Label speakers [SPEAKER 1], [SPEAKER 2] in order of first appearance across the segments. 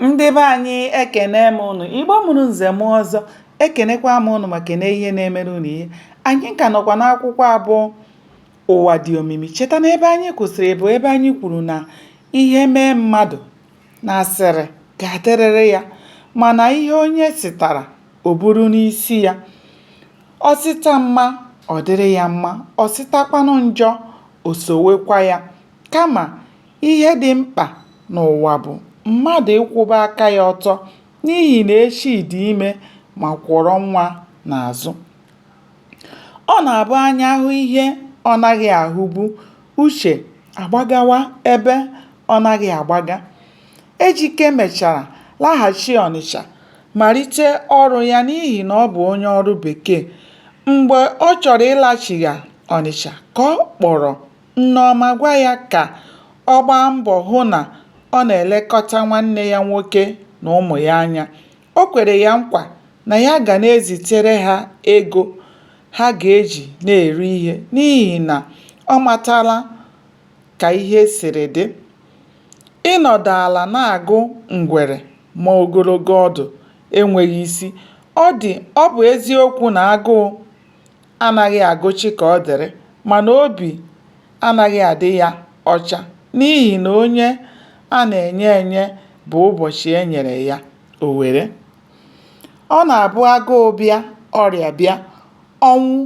[SPEAKER 1] ndị be anyị ekene m ụnụ igbo mụrụ nze mụọ ọzọ ekenekwa m ụnụ ma kene ihe na-emere ụnụ ihe anyị ka nọkwa n'akwụkwọ a bụ ụwa dị omimi cheta na ebe anyị kwụsịrị bụ ebe anyị kwuru na ihe mee mmadụ na asịrị ga-adịrịrị ya mana ihe onye sitara o buru n'isi ya o sita mma ọ dịrị ya mma o sitakwanụ njọ o sowekwa ya kama Ihe dị mkpa n'ụwa bụ mmadụ ịkwụba aka ya ọtọ n'ihi na echi dị ime ma kwọrọ nwa n'azụ. Ọ na-abụ anya hụ ihe ọ naghị ahụbu, uche agbagawa ebe ọ naghị agbaga. Ejike mechara laghachi Ọnịcha malite ọrụ ya n'ihi na ọ bụ onye ọrụ bekee. Mgbe ọ chọrọ ịlachigha Ọnịcha ka ọ kpọrọ Nneọma gwa ya ka ọ gbaa mbọ hụ na ọ na-elekọta nwanne ya nwoke na ụmụ ya anya. O kwere ya nkwa na ya ga na-ezitere ha ego ha ga-eji na-eri ihe n'ihi na ọ matala ka ihe siri dị. Ịnọdụ ala na-agụ ngwere ma ogologo ọdụ enweghị isi. Ọ dị ọ bụ eziokwu na agụụ anaghị agụ Chikaọdịrị mana obi anaghị adị ya ọcha n'ihi na onye a na-enye enye bụ ụbọchị e nyere ya o were. Ọ na-abụ agụụ bịa, ọrịa bịa, ọnwụ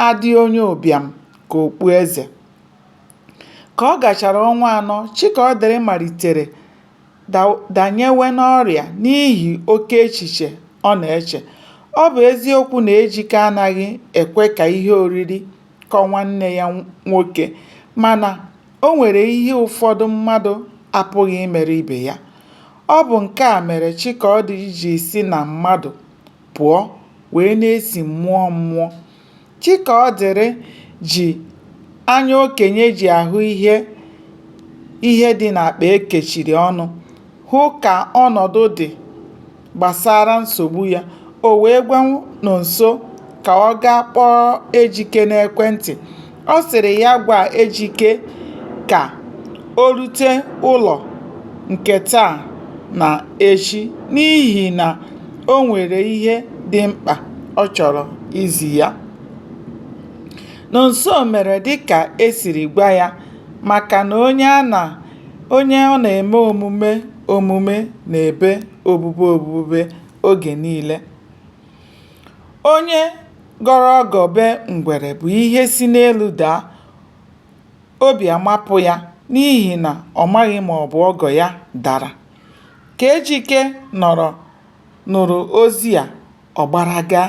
[SPEAKER 1] adị onye ụbịam ka okpueze. Ka ọ gachara ọnwa anọ, Chikaọdịrị malitere danyewe n'ọrịa n'ihi oke echiche ọ na-eche. Ọ bụ eziokwu na Ejike anaghị ekwe ka ihe oriri kọọ nwanne ya nwoke, mana o nwere ihe ụfọdụ mmadụ apụghị imere ibe ya. Ọ bụ nke a mere Chikaọdịrị ji si na mmadụ pụọ wee na-esi mmụọ mmụọ. Chikaọdịrị ji anya okenye ji ahụ ihe dị n'akpa e kechiri ọnụ hụ ka ọnọdụ dị gbasara nsogbu ya. O wee gwa Nọnso ka ọ gaa kpọọ Ejike n'ekwentị Ọ sịrị ya gwa Ejike ka o rute ụlọ nke taa na echi n'ihi na o nwere ihe dị mkpa ọ chọrọ izi ya. Nọnso mere dịka e siri gwa ya maka na onye ọ na-eme omume omume na-ebe obube obube oge niile. Onye gọrọ ọgọ be ngwere bụ ihe si n'elu daa, obi amapụ ya n'ihi na ọ maghị ma ọ bụ ọgọ ya dara. Ka Ejike nọrọ nụrụ ozi a, ọ gbara gaa.